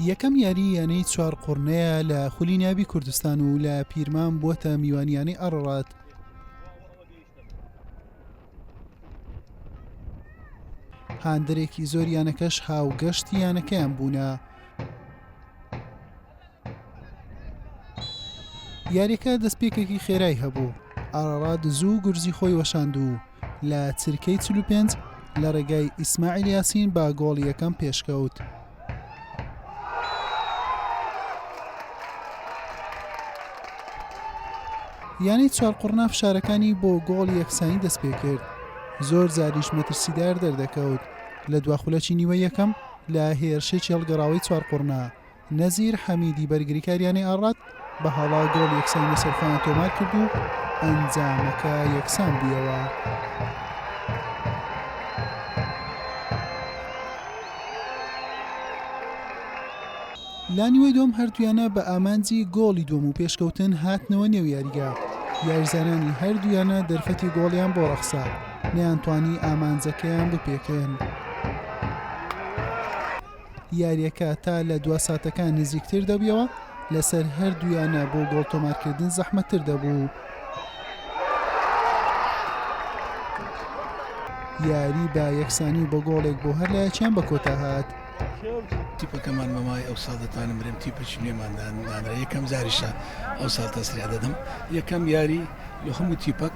یەکەم یاری یانەی چوار قڕنەیە لە خولی ناوی کوردستان و لە پیرمان بووەتە میوانیانەی ئەڕڕات هاندەرێکی زۆر یانەکەش هاوگەشتی یانەکەیان بوونە یاریەکە دەستپێکێکی خێرای هەبوو ئاڕاڕات زوو گورزی خۆی وەشاندوو لە چرکەی 45 لە ڕێگای ئیسماعیل یاسین با گۆڵ یەکەم پێشکەوت. یانەی چوارقڕنا فشارەکانی بۆ گۆڵ یەکسانی دەست پێ کرد زۆر زاریش مەترسیدار دەردەکەوت لە دواخولەکی نیوە یەکەم لە هێرشێکی هەڵگەڕاوی چوارقڕنا نەزیر حەمیدی بەرگریکار یانەی ئاڕات بە هەڵە گۆڵ یەکسانی لەسەر خۆیان تۆمار کرد و ئەنجامەکە یەکسان بوویەوە. لانیوەی دوم هەردوویانە بە ئامانجی گۆڵی دوم و پێشکەوتن هاتنەوە نێو یاریگا یاریزانانی هەردوویانە دەرفەتی گۆڵیان بۆ ڕەخسا نەیانتوانی ئامانجەکەیان بپێکێن. یاریەکە تا لە دوا ساتەکان نزیکتر دەبیەوە لەسەر هەردوویانە بۆ گۆڵ تۆمارکردن زەحمەتتر دەبوو. یاری بە یەکسانی بە گۆڵێک بۆ هەر لایەکیان بە کۆتا هات. تیپەکەمان بەمای ئەو ساڵ دەتوانم برێم تیپێکی نوێماندان دانرا یەکەم جاریشە ئەو ساڵ تەسریا دەدەم یەکەم یاری لە هەموو تیپەک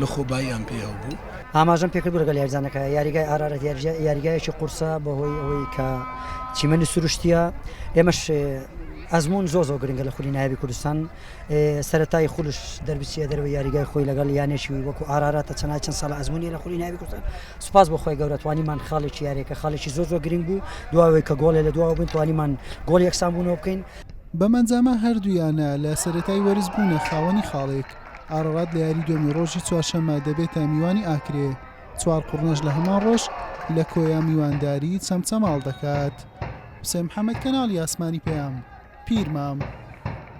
لەخۆباییان پێ هەبوو. ئاماژەم پێکرد بۆ لەگەڵ یاریزانەکە، یاریگای ئارارەت یاریگایەکی قورسە بەهۆی ئەوەی کە چیمەنی سروشتیە، ئێمەش ئەزمون زۆ زۆ گرنگە لە خولی نایابی کوردستان سەرەتای خولش دەربچیە دەرەوەی یاریگای خۆی لەگەڵ یانێکی وەکو ئاراراتە چەنای چەند ساڵ ئەزمونی لە خولی نایابی کوردستان سوپاس بۆ خۆی گەورەتوانیمان خاڵێکی یاریەکە خاڵێکی زۆ زۆ گرنگ بوو دواوەی کە گۆڵێ لە دواوە بووین توانیمان گۆڵ یەکسان بوونەوە بکەین بەمەنجامە هەردوو یانە لە سەرەتای وەرز بوونە خاوەنی خاڵێک. ئارەڕات لە یاری دوێنی ڕۆژی چوارشەممە دەبێتە میوانی ئاکرێ چوار قڕنەش لە هەمان ڕۆژ لە کۆیا میوانداری چەمچەماڵ دەکات حسێن محەممەد کەناڵی ئاسمانی پەیام پیرمام.